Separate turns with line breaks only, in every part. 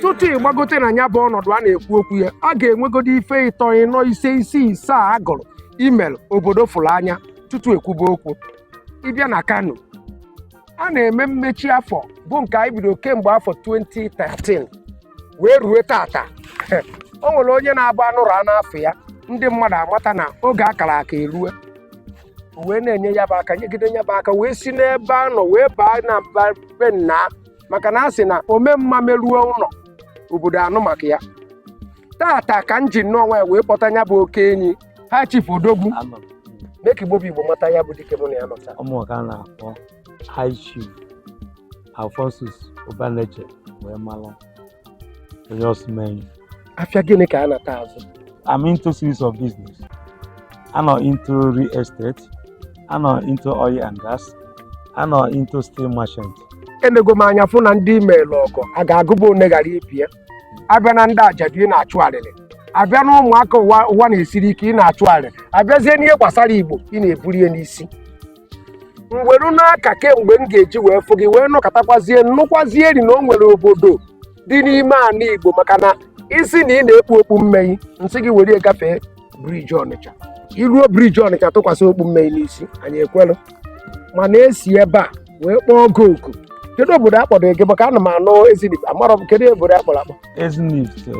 tutu ị gbagote na ya bụ ọnọdụ a na-ekwu okwu ya a ga-enwegodo ife ịtọ ịnọ ise isii asaa a agụrụ i melụ obodo fụrụ anya tutu ekwube okwu ị bịa na kano a na-eme mmechi afọ bụ nke anyị bido kemgbe afọ 2013 wee rue tata o nwere onye na-abụ anụrụ afa ya ndị mmadụ amata na oge akara aka erue wee na-enye ya bụ aka nyegide ya bụ aka wee si n'ebe a nọ wee baa na mba be nna maka na a sị na ome mma meruo ụlọ obodo anụ maka ya tata ka m ji nnọọ nwayọ wee kpọta ya bụ oke enyi high chief odogwu Anọ m. mee ka igbo bụ igbo mata ya bụ dike mụ na ya nọ sọ ụmụaka
na-akpọ high chief alphonsus ubaneche wee mara onye ọsụmenyi afịa
gịnị ka a na-ata azụ I'm into
series of business. Anọ into real estate, anọ into oil and gas, anọ into steel merchant. enego m anya
fụ na ndị i meelụ ọgọ a ga-agụba one ghara ibe ya abịa na ndị ajadu ị na-achụ arịrị abịa na ụmụaka ụwa na-esiri ike ị na-achụ arịrị abịazie n'ihe gbasara igbo ị na-ebuli ya n'isi mgberu n'aka kemgbe m ga-eji wee fụ gị wee nọkọtakwazie nụkwazie rị na o nwere obodo dị n'ime ala Igbo maka na ị sị na ị na-ekpu okpu mmee n'isi gị were gafee briji Ọnịcha i ruo briji Ọnịcha tụkwasị okpu mmee n'isi anyị ekwelụ mana e si ebe a wee kpọọ gị oku kedu obodo akpọrọ gị maka ana m anụ Ezinifite amarọ m kedu obodo akpọrọ akpọ
Ezinifite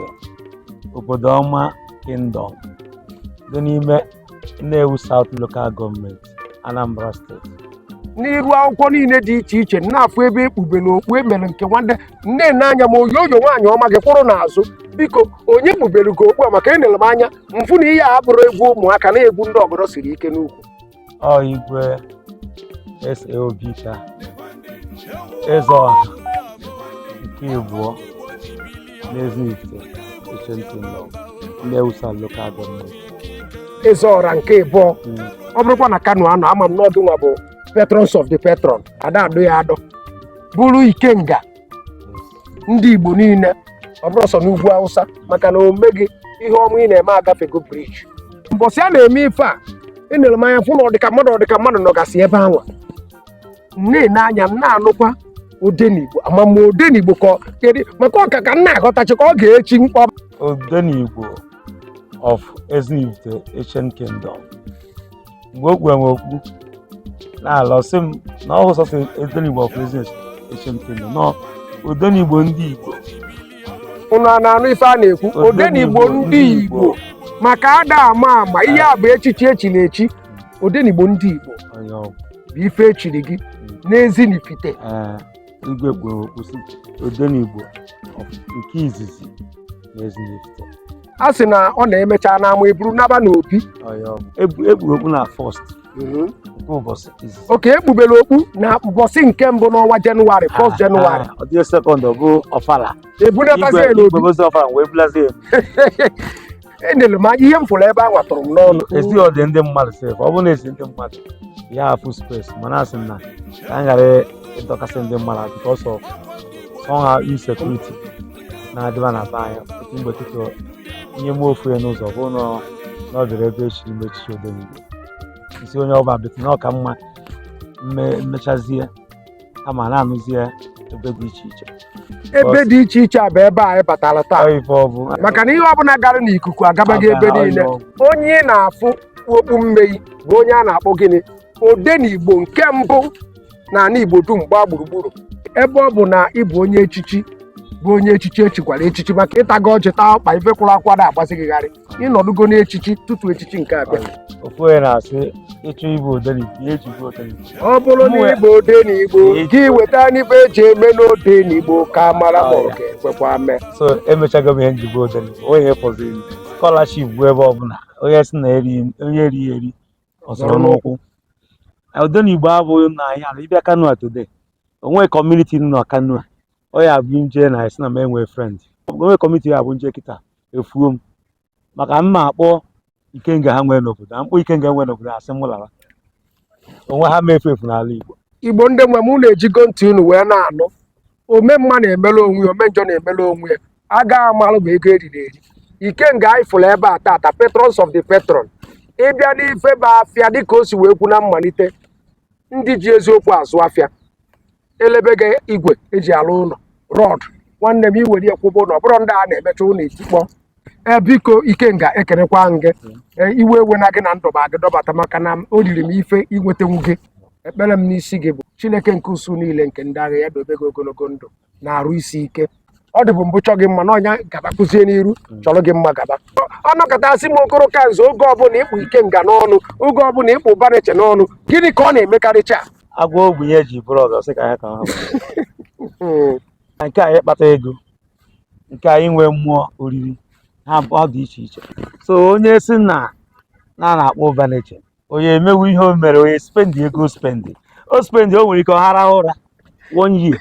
obodo ọma kingdom dị n'ime Nnewi South Local Gọọmenti Anambra steeti n'iru
akwụkwọ niile dị iche iche na-afụ ebe ekpubere okpu emere nke nwanne m na-ene anya ma oyooyo nwaanyị ọma gị kwụrụ n'azụ biko onye kpubere gị okpu a maka enere m anya m fụ na ihe a abụrọ egwu ụmụaka na-egwu ndị ọgọdọ siri ike n'ukwu ọ
igwe S.A. Obika eze ọha nke abụọ n'Ezinifite Ancient Kingdom Nnewi South Local Gọọmenti
eze ọra nke ịbụọ ọ bụrụkwa na kano a nọ ama m n'ọdụ nwa bụ patrons of the patron ada adọ ya adọ bụrụ ikenga ndị igbo niile ọ bụrọ sọ n'ugwu awụsa maka na omume gị ihe ọma ị na-eme agafego briji mbọsị a na-eme ife a enere m anya fụ na ọdịka mmadụ ọdịka mmadụ nọgasị ebe anwa na-ene anya m na-anụkwa odenigbo ama m odenigbo ka ọ- kedu maka ọka ka m na-aghọtachi ka ọ ga-echi mkpọ Odenigbo
of Ezinifite Ancient Kingdom. Mgbe o kpuwere m okpu na-alọ sị m na ọ bụrọ sọsọ Odenigbo of Ezinifite Ancient Kingdom na ọ Odenigbo ndị Igbo. ụnụ
a na-anụ ife a na-ekwu odenigbo ndị igbo maka ada ama ama ihe a bụ echichi echiri echi odenigbo ndị Igbo onye ọgwụ bụ ife echiri gị n'ezinifite
ee igwe kpuru okpu sị odenigbo of- nke izizi na ezinifite a sị
na ọ na-emecha n'ama eburu naba n'obi onye ọgwụ Ekpu-
ekpuru okpu na fọst nke ụbọchị izizi oke ekpubere
okpu na mbọsị nke mbụ n'ọnwa jenụwarị 1 jenụwarị ọ dị sekọnd ọ
bụ ọfala ebunatazie igwe
n'obi igwe ozi ọfala wee bulazie enere m anya ihe m fụrụ ebe a nwatụrụ m n'ọnụ esi ọ dị ndị
mmadụ sef ọ bụrụ na esi ndị mmadụ ya afụ spes mana asị m na ka m ghara ịdọkasị ndị mmadụ because of somehow insekuriti na-adịba na be anyị otu mgbe tutu ihe mụ ofu ya n'ụzọ bụ na na ọ dịrị ebe echiri m echichi odenigbo isi onye ọbụla bete na ọ ka mma mme- mmechazie a ma na-anụzi ya ebe dị iche iche ebe dị
iche iche a bụ ebe anyị batara taa Ọ ife ọ bụ maka na ihe ọbụla gara n'ikuku agabaghị ebe Aga- niile ọ bụ. onye ị na-afụ kpu okpu mmee bụ onye a na-akpọ gịnị odenigbo nke mbụ na ala igbo dum gbaa gburugburu ebe ọ bụ na ị bụ onye echichi bụ onye echichi echikwara echichi maka ịtago ọjị taa ọkpa ife kwụrụ akwa na-agbazi gị gharị ịnọdụgo n'echichi tutu echichi nke abịa ofu onye
na-asị ịchọ ịbụ odenigbo ihe eji bụ odenigbo ọ bụrụ na ịbụ
odenigbo gị weta n'ife eji eme n'odenigbo ka mara ma ọ ga-ekwekwa mee so emechago m
ihe nji bụ odenigbo onye ihe fọziri m skọlaship bụ ebe ọbụla onye si na eri onye eri eri ọsọrọ n'ụkwụ odenigbo abụghị na anyị ala ịbịa kano today onwe kọmuniti nọ kano ọ ya abụ nje na esi na m enwe frend onwe kọmuniti ya abụ nje kịta efuo m maka mma akpọ ikenga ha nwee n'obodo a mkpọ ikenga nwee n'obodo a sị m lara onwe ha ma efu efu n'ala igbo igbo ndị nwe m unu
ejigo ntị unu wee na-anụ ome mma na-emere onwe ya ome njọ na-emere onwe ya agaghị amalụ ma ego eriri eri ikenga anyị fụrụ ebe a tata patrons of the patron ịbịa n'ife bụ afịa dịka o si wee kwu na mmalite ndị ji eziokwu azụ afịa elebega igwe eji alụ ụlọ rọd nwanne m iwere ya kwụba ụlọ ọ bụrọ ndị a na-emecha ụlọ etikpọ ee biko ikenga ekerekwa m gị Ee, iwe ewena gị na ndọba gị dọbata maka na o riri m ife inwetenwu gị ekpere m n'isi gị bụ chineke nke usuu niile nke ndị agha ya dobe gị ogologo ndụ na arụ isi ike ọ dịbụ mbụ chọ gị mma na nya gabakwuzie n'iru hmm. chọrọ gị mma gaba ọnọkọtasị m okoro ka nze oge ọbụla ịkpụ ikenga n'ọnụ oge ọbụla ịkpụ ụbaneche n'ọnụ gịnị ka ọ na-emekarịcha agwa ogbenye
ihe eji bụrụ ọzọ sị ka ya ka ha hmm. nke anyị kpata ego nke anyị nwee mmụọ oriri ha ọ dị iche iche so onye si na na na-akpọ ụbaneche onye emewu ihe o mere onye spendi ego spendi o spendi o nwere ike ọ hara ụra one year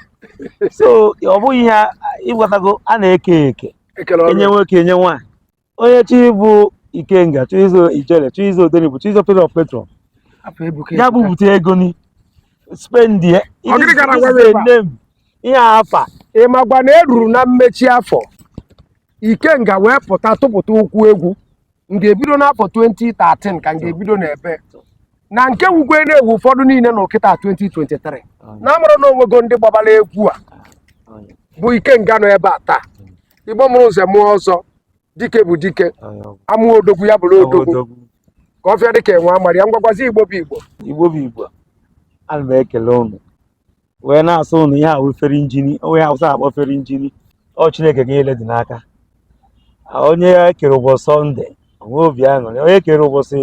so ọ bụghị ihe a- ịghọtago a na-eke eke enye nwoke enye nwaanyị onye chi bụ ikenga chọ izo ijele chọ izo odenigbo chọ izo patron patron afọ ebuka ya bupụta ego ni spendi ya Ọ gịnị gara gwa gị ebe a? ihe afa ị magwa na
eruru na mmechi afọ ikenga wee pụta tụpụta ụkwụ egwu nke a ebido n'afọ 2013 ka nke a ebido n'ebe na nke wukwe na-ewu ụfọdụ niile na kịtaa 2023 na amara na onwego ndị gbabara egwu a bụ ikenga nọ ebe a taa igbo mụrụ nze mụọ ọzọ dike bụ dike amụọ odogwu ya bụrụ odogwu ka ọfịa dị ka enwe amara ya ngwa gwazi igbo bụ igbo igbo bụ igbo
ana m ekele ụnụ wee na-asị ụnụ ihe ahụ fere injini onye awụsa akpọ fere injini ọ chineke ka ihe niile dị n'aka onye kere ụbọchị sọnde o nwee obi aṅụrị onye kere ụbọchị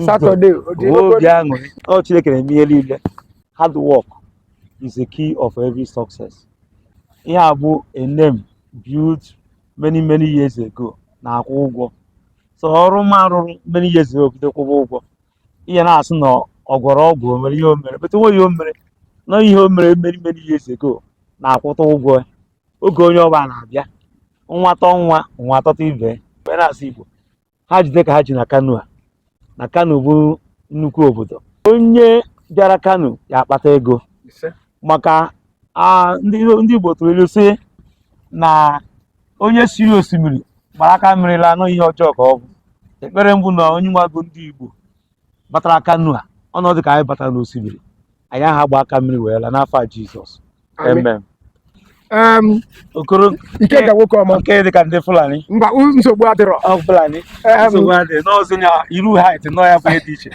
satọde
o nwee obi
aṅụrị ọ chineke na-eme ihe niile hard work is the key of every success ihe a bụ a name built many many years ago na-akwụ ụgwọ so ọrụ m arụrụ many years ago bido kwụba ụgwọ ihe na-asị na ọ gwọrọ ọgwụ o nwere ihe o mere but o nweghị ihe o mere na ihe o mere many many years ago na-akwụta ụgwọ ya. oge onye ọbụla na-abịa nwa tọ nwa nwa atọta ibe ya. wee na-asị igbo ha jide ka ha ji na kano a na kano bụ nnukwu obodo onye bịara kano ya akpata ego maka ndị Igbo tụrụ ilu sị na onye si n'osimiri gbara aka mmiri laa na ọ ihe ọjọọ ka ọ bụ ekpere m bụ na onye nwago ndị Igbo batara kano a ọ na-adị ka anyị batara n'osimiri anyị aha gba aka mmiri wee laa n'afa Jizọs amen em,
okoro ikenga nwoke ọma nke dị ka ndị
fulani mba u- nsogbu adịrọ
ọ fulani Em,
nsogbu adị n'ọzọ na iru hait nọ ya bụ ihe dị iche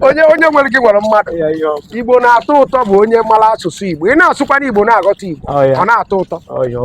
onye onye nwere gị nwere mmadụ Ya, ya, ọ- igbo na-atọ ụtọ bụ onye mara asụsụ igbo ị na-asụkwanụ igbo na-aghọta igbo Ọ ya. ọ na-atọ ụtọ ọ ya, ọ-